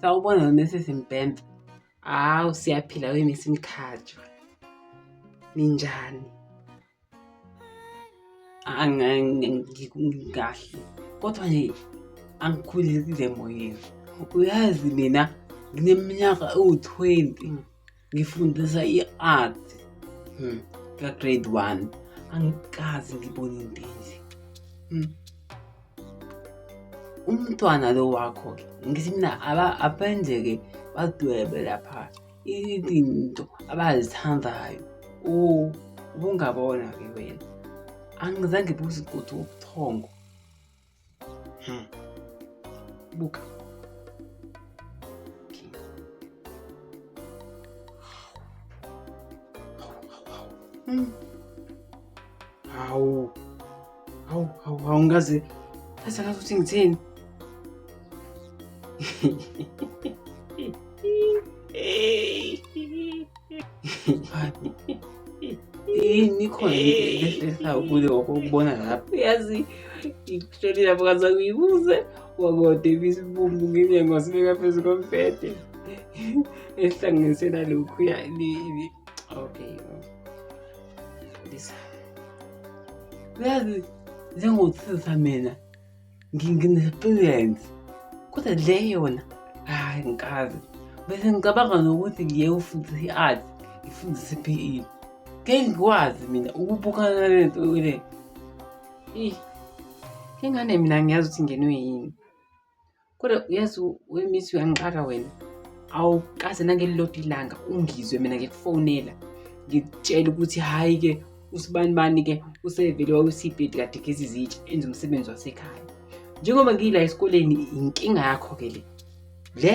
Sawubona Mrs Mbembe. Hawu siyaphila we Miss Mkhatshwa. Ninjani? Angikahle. Kodwa nje angikhulekile moyeni. Uyazi mina ngineminyaka ewu-20. ngifundisa i-art hmm. ka-grade one angikazi ngibone into enje hmm. umntwana lo wakho-ke ngithi mina abenze-ke badwebe lapha izinto abazithandayo ubungabona-ke wena angizange buze ukuthi ubuthongo Hmm. Buka. Hmm. Hawu. Hawu, hawu, hawu ngaze. Ngaze ngaze uthi ngithini? yini ikhona ehlehlesayo kuze ngokokubona lapho uyazi ngikushoni lapho kaze ngiyibuze wakode ibisibumbu ngenye ngosibeka phezu kombhede ehlanganisela lokhu okay lisa uyazi njengothisa mina ngine-experience kodwa le yona hhayi ngikazi bese ngicabanga nokuthi ngiye ufundisa i-art ngifundise i-p e ngeke ngikwazi mina ukubukana nale nto le ingane mina ngiyazi ukuthi ngenwe yini kodwa uyazi wemisi uyangixaka wena awukaze nangelilodwa ilanga ungizwe mina ngikufonela ngikutshela ukuthi hhayi-ke usibanibani ke usevele wawusibhedi kade gezi zitsha enza umsebenzi wasekhaya njengoba ngiyila esikoleni inkinga yakho ke le le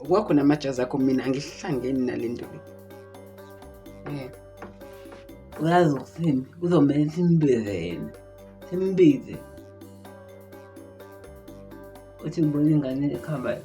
kwakho namajazi akho mina angihlangeni nale nto le eh, uyazi ukusini kuzomele simbize yena simbize uthi ngibona ingane ekhambayo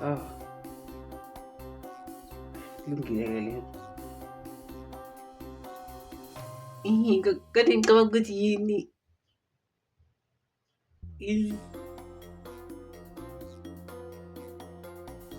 Ah. Lungile ke le. Ihi, kade ngicabanga ukuthi yini. Ihi.